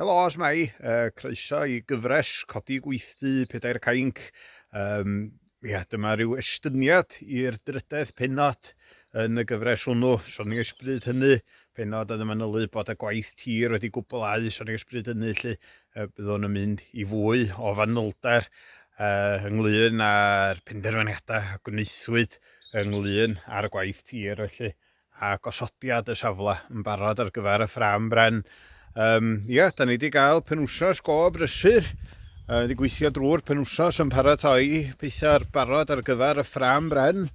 Helo, os mai, uh, croeso i gyfres Codi Gweithdy Pedair Cainc. Um, ia, dyma rhyw estyniad i'r drydedd penod yn y gyfres hwnnw. Soni'n ysbryd hynny, penod oedd y manylu bod y gwaith tir wedi gwblhau, soni'n ysbryd hynny, lle uh, byddwn yn mynd i fwy o fanylder uh, ynglyn â'r penderfyniadau a gwnaethwyd ynglyn â'r gwaith tir, felly. a gosodiad y safle yn barod ar gyfer y ffrâm bren. Um, ia, da ni wedi cael penwsos go brysur, uh, wedi gweithio drwy'r penwsos yn paratoi pethau'r barod ar gyfer y ffrâm bren.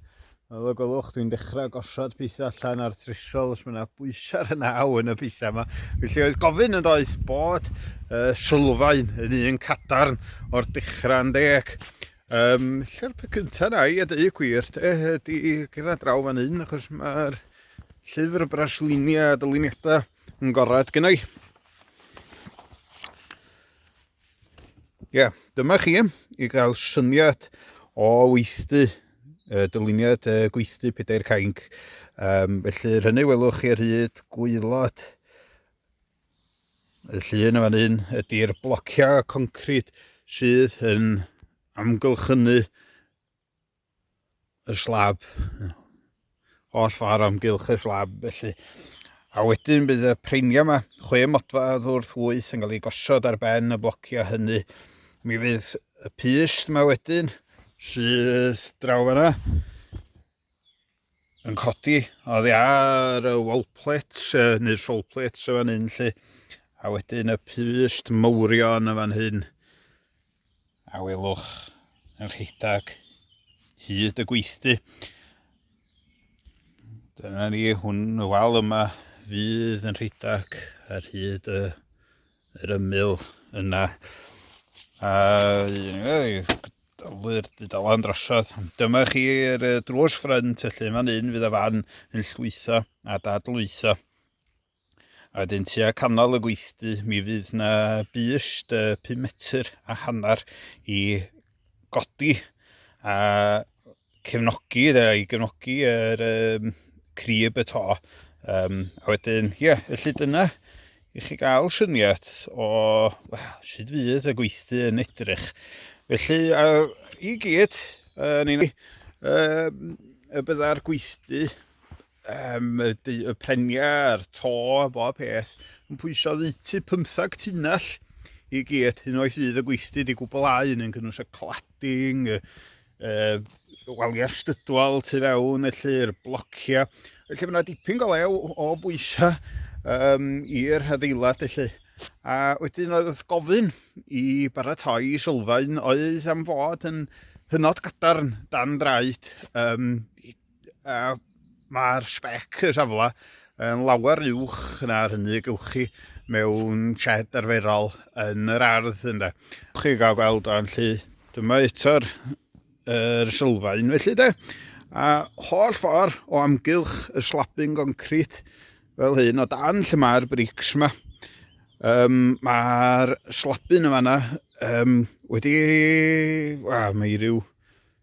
Fel y gwelwch, dwi'n dechrau gosod pethau allan ar trisol os mae yna bwysau yn aw yn y pethau yma. Felly oedd gofyn yn doedd bod uh, sylfaen yn un cadarn o'r dechrau'n deg. Yym, lle'r peth cynta na i, a dweud y gwir, de, ydy gyda draw fan hyn, achos mae'r llyfr y brasluniau a dyluniadau yn gorad gynnau. Ie, yeah, dyma chi i gael syniad o weithdy, uh, dyluniad uh, gweithdy pedair cainc. Um, felly, rhynnu welwch chi ar hyd gwylod Y llun yn fan hyn ydy'r blociau concrit sydd yn amgylchynu y slab oll ffordd amgylch y slab felly a wedyn bydd y preiniau yma chwe modfa ddwrth wyth yn cael ei gosod ar ben y blociau hynny mi fydd y pyst yma wedyn sydd draw fanna yn codi oddi ar y wall plates uh, neu'r soul plates y fan hyn lle a wedyn y pyst mawrion y fan hyn a welwch yn rhedeg hyd y gweithdy dyna ni hwn y wal yma fydd yn rhedeg ar hyd y yr ymyl yna. A dylwyr dudalen drosodd. Dyma chi'r drws ffrynt, felly fan un fydd y fan yn llwytho a dadlwytho. A wedyn tua canol y gweithdy, mi fydd na bust 5 metr a hanner i godi a cefnogi, iddo i gefnogi yr um, crib y to. Um, a wedyn, ie, yeah, felly dyna i chi gael syniad o well, sut fydd y gweithdy yn edrych. Felly, uh, i gyd, uh, ni'n uh, y byddai'r gweithdy, um, y, y preniau, y to, bob peth, yn pwysau ddeutu 15 tunnell i gyd, hyn oes fydd y gweithdy wedi gwblhau yn yn cynnwys y cladding, y uh, waliau stydwal tu fewn, felly'r blociau. Felly mae yna dipyn golew o bwysau um, i'r hadeilad, felly. A wedyn oedd wrth gofyn i baratoi sylfaen oedd am fod yn hynod gadarn dan draed um, a mae'r spec y safle yn lawer uwch na'r hynny gewch chi mewn shed arferol yn yr ardd ynde. Chi gael gweld o'n lli, dyma eto'r er sylfaen felly de, a holl ffordd o amgylch y slapping concrit fel hyn o dan lle mae'r brics yma. Um, mae'r slapyn yma yna um, wedi... Wel, mae rhyw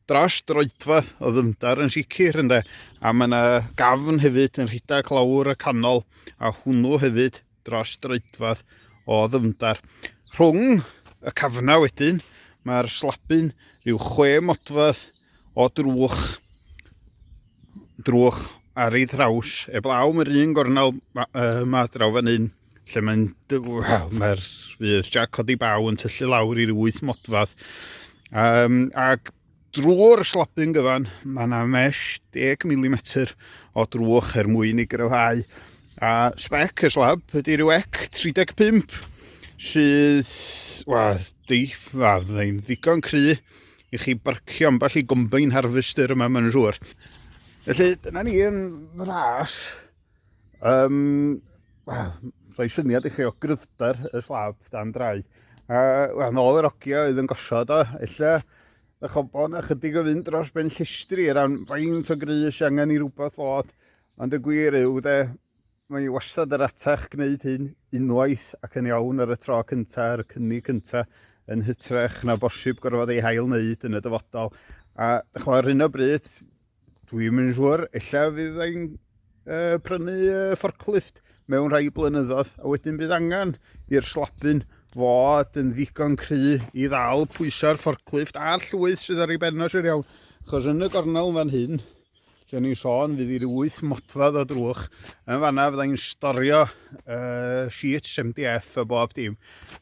dros droedfa o ddyfnder yn sicr ynde a mae yna gafn hefyd yn rhedeg lawr y canol a hwnnw hefyd dros droedfa o ddyfnder. Rhwng y cafnau wedyn mae'r slabyn rhyw chwe modfedd o drwch drwch ar ei thraws eblaw mae'r un gornel yma draw fan hyn lle mae'n wel mae'r fydd Jack codi baw yn tyllu lawr i'r wyth modfadd um, ac drwy'r slopyn gyfan mae yna mesh 10 mm o drwch er mwyn i gryfhau a spec y slab ydy rhyw ec 35 sydd wel, di, wel, ddigon cry i chi barcio ambell i gombine harvester yma, mae'n siŵr. Felly, dyna ni yn fras. Um, well, rhoi syniad i chi o gryfder y slab dan drai. A, well, nôl yr ogia oedd yn gosod o, illa y chobon a chydig o fynd dros ben llestri er ran faint o grys angen i rhywbeth fod Ond y gwir yw de, mae hi wastad yr atach gwneud hyn unwaith ac yn iawn ar y tro cynta, ar y cynnig cynta, yn hytrach na bosib gorfod ei hail wneud yn y dyfodol. A dych chwa, ar hyn o bryd, dwi'n mynd siŵr, ella fydd ein uh, prynu uh, forklift mewn rhai blynyddoedd, a wedyn bydd angen i'r slabyn fod yn ddigon cry i ddal pwysau'r forklift a'r llwyth sydd ar ei bennos i'r iawn. Chos yn y gornel fan hyn, Lle ni'n sôn, fydd i'r wyth modfedd o drwch. Yn fanna fydda i'n storio uh, sheets MDF a bob dim.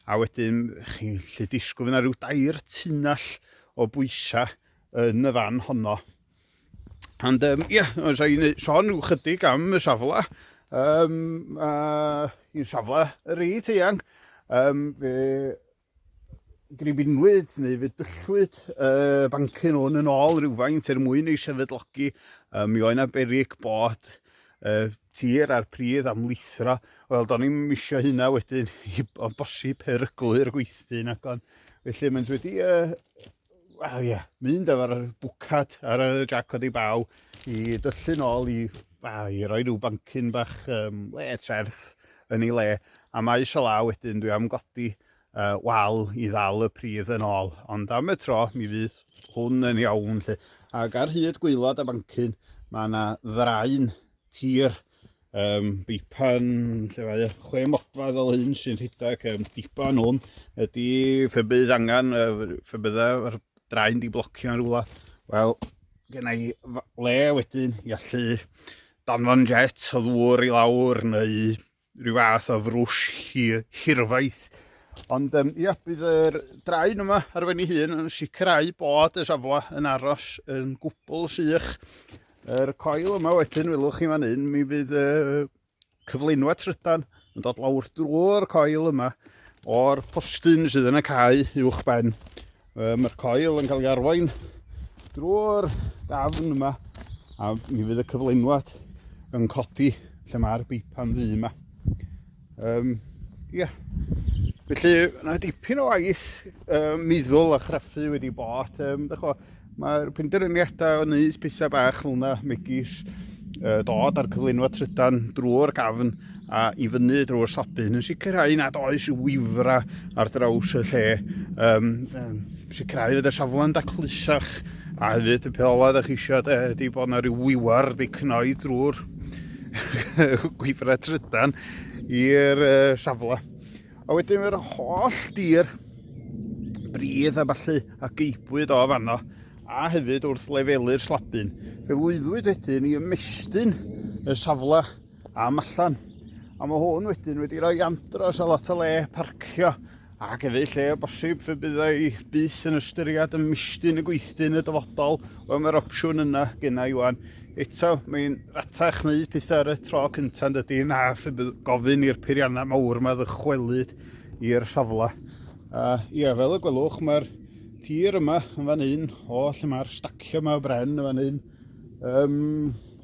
A wedyn chi'n lle disgwyl fyna rhyw dair tunnell o bwysau yn y fan honno. Ond um, ie, yeah, os i'n sôn rhyw chydig am y safle, um, uh, i'n safle yr eid eang, um, fe gribinwyd neu fe dyllwyd y bancyn hwn yn ôl rhywfaint er mwyn ei sefydlogi. Um, mi oedd yna berig bod uh, tir a'r pridd am lithro. Wel, do'n i'n misio hynna wedyn i bosib peryglu'r gweithdy yn agon. Felly mae'n wedi uh, Wel ie, mynd efo'r bwcad ar y jac oedd ei baw i dyllu'n ôl i, a, i roi rhyw bancyn bach um, le trerth yn ei le. A mae eisiau law wedyn, dwi am godi uh, wal i ddal y pridd yn ôl. Ond am y tro, mi fydd hwn yn iawn. Lle. Ac ar hyd gweilod a bancyn, mae yna ddraen tir Um, bipan, lle mae chwe modfad o hyn sy'n rhedeg um, dipan hwn, ydy fe bydd angen, fe bydd yr draen di blocio yn rhywle. Wel, gen i le wedyn i allu danfon jet o ddŵr i lawr neu rhyw fath o frwsh hir, hirfaith. Ond um, ia, bydd yr draen yma ar fen ei hun yn sicrhau bod y safle yn aros yn gwbl sych Yr coil yma wedyn, welwch chi fan hyn, mi fydd y cyflenwa trydan yn dod lawr drwy'r coil yma o'r postyn sydd yn y cae uwch ben. Mae'r coil yn cael ei arwain drwy'r dafn yma a mi fydd y cyflenwad yn codi lle mae'r beipan ddu yma. Um, ia. Felly, yna dipyn o waith um, meddwl a chraffu wedi bod. Um, Mae'r penderfyniadau o wneud pethau bach fel yna, megis uh, dod ar cyflwyno trydan drwy'r gafn a i fyny drwy'r sobyn yn sicrhau nad oes wifra ar draws y lle. Um, um, Sicrhau fod y safle'n daclusach a hefyd y peth olaf ydych chi eisiau de ydy bod yna rhyw wiwer wedi cnoi drwy'r gweithrau trydan i'r uh, safle. A wedyn mae'r holl dir bridd a falle a geibwyd o fanno a hefyd wrth lefelu'r slabyn. Fe lwyddwyd wedyn i ymestyn y safle am allan. A mae hwn wedyn wedi rhoi andros a lot o le parcio Ac efallai lle o bosib fe byddai bus yn ystyried y misty yn y gweithdy yn y dyfodol. Wel, mae'r opsiwn yna gyna i wan. Eto, mae'n ratach wneud pethau ar y tro cyntaf yn dydy na fe bydd gofyn i'r peiriannau mawr yma ddychwelyd i'r safle. A ie, fel y gwelwch, mae'r tir yma yn fan hyn, o lle mae'r stacio yma o bren yn fan hyn, um,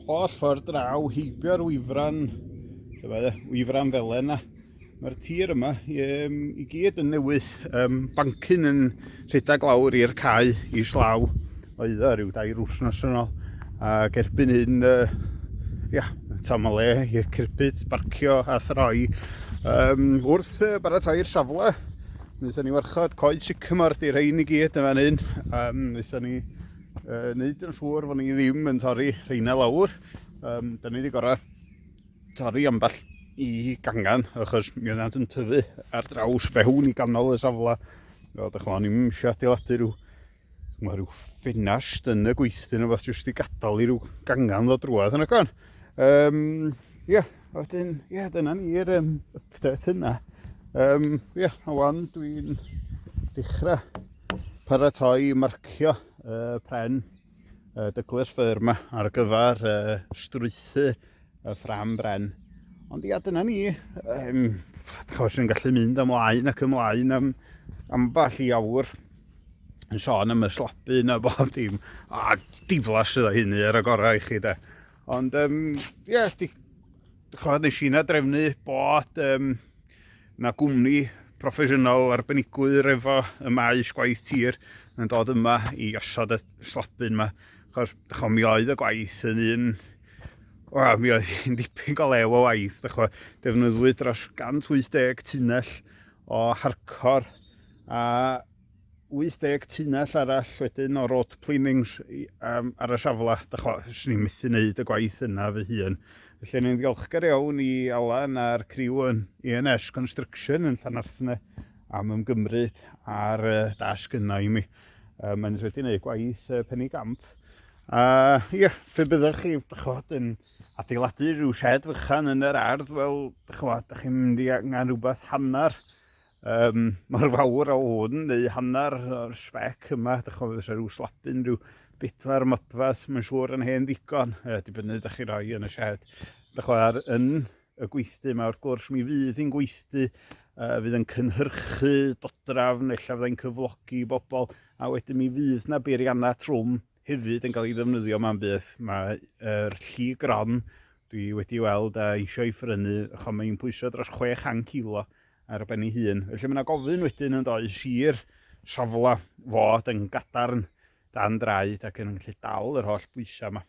holl ffordd draw, heibio'r wyfran, lle mae e, wyfran felen na, Mae'r tir yma um, i gyd yn newydd, um, bancyn yn rhedeg lawr i'r cae i slaw oedd o rhyw dair wrthnos yn ôl. Ac erbyn hyn, uh, ia, tam o le i'r cirbyd, barcio a throi. Um, wrth uh, baratoi'r safle, wnaethon ni warchod coed sycamor di rhain i gyd yn fan hyn. Um, wnaethon ni uh, wneud yn siŵr fod ni ddim yn torri rheina lawr. Um, da ni wedi gorau torri ambell i gangen achos mi oeddant yn tyfu ar draws fewn i ganol y safle. Fel ydych chi'n ni'n eisiau adeiladu rhyw, mae rhyw ffenast yn y gweithdy neu beth jyst i gadael i rhyw gangen ddod drwad yn y gan. Um, ie, yeah, wedyn, ie, yeah, dyna ni'r um, update yna. Ie, um, yeah, a wan dwi'n dechrau paratoi marcio uh, pren uh, dyglus ffyr yma ar gyfer uh, strwythu y ffram bren. Ond ia, dyna ni, um, chos yn gallu mynd ymlaen ac ymlaen am amball i awr yn sôn am y slopu na bob dim a diflas sydd o hynny ar y gorau i chi de ond um, yeah, di, Chod, nes i'n adrefnu bod um, na gwmni proffesiynol arbenigwyr efo y maes gwaith tir yn dod yma i osod y slabyn yma. Chos, dychwa, mi oedd y gwaith yn un... O, mi oedd hi'n dipyn go lew o waith, dychwa. Defnyddwyd dros 180 tunnell o harcor a 80 tunnell arall wedyn o road planings um, ar y safle. Da chwa, swn i'n methu wneud y gwaith yna fy hun. Felly ni'n ddiolchgar iawn i Alan a'r criw yn ENS Construction yn Llanarthne am ymgymryd ar y dasg yna i mi. Um, Mae'n wedi gwneud gwaith uh, penny gamp. A uh, ie, yeah, fe byddwch chi, da chwad, yn adeiladu rhyw shed fychan yn yr ardd, wel, da chwad, da chi'n mynd i angen rhywbeth hanner Yym, mor fawr a hwn, neu hanner o'r spec yma, dych chi'n fysa rhyw slapyn, rhyw bedwar modfath, mae'n siŵr yn hen ddigon, e, dibynnu dych chi roi yn y shed. Dych chi'n ar yn y gweithdy yma, wrth gwrs, mi fydd hi'n gweithdy, uh, fydd yn cynhyrchu dodrafn, efallai fyddai'n cyflogi bobl, a wedyn mi fydd na beiriannau trwm hefyd yn cael ei ddefnyddio ma'n bydd. Mae'r er lli gron, dwi wedi weld a eisiau ei ffrynu, chwa mae'n pwysau dros 600 kilo, ar ben ei hun. Felly mae yna gofyn wedyn yn does i'r safle fod yn gadarn dan draed ac yn gallu dal yr holl bwysau yma.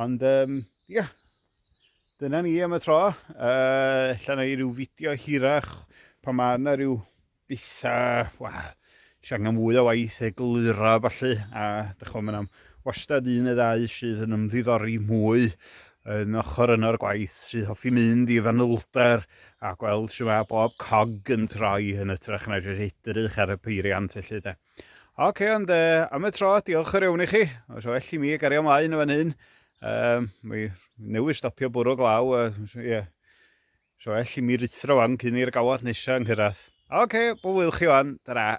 Ond um, ia, yeah. dyna ni am y tro. Uh, Llan i ryw fideo hirach pan mae yna rhyw bethau, wel, Oes angen fwy o waith eglura felly, a dych chymod, mae'n am wastad un neu ddau sydd yn ymddiddori mwy yn ochr yno'r gwaith, sy'n hoffi mynd i fanylder a gweld sy'n mae bob cog yn troi yn ytrach na jyst edrych ar y peiriant felly de. Oce, okay, ond e, am y tro, diolch yr iawn i chi. Os well i mi gario ymlaen o fan hyn, um, mi newydd stopio bwrw glaw, ie, uh, yeah So well i mi ruthro wan cyn i'r gawod nesa nghyrradd. Ok, bob lwc chi wan, tara.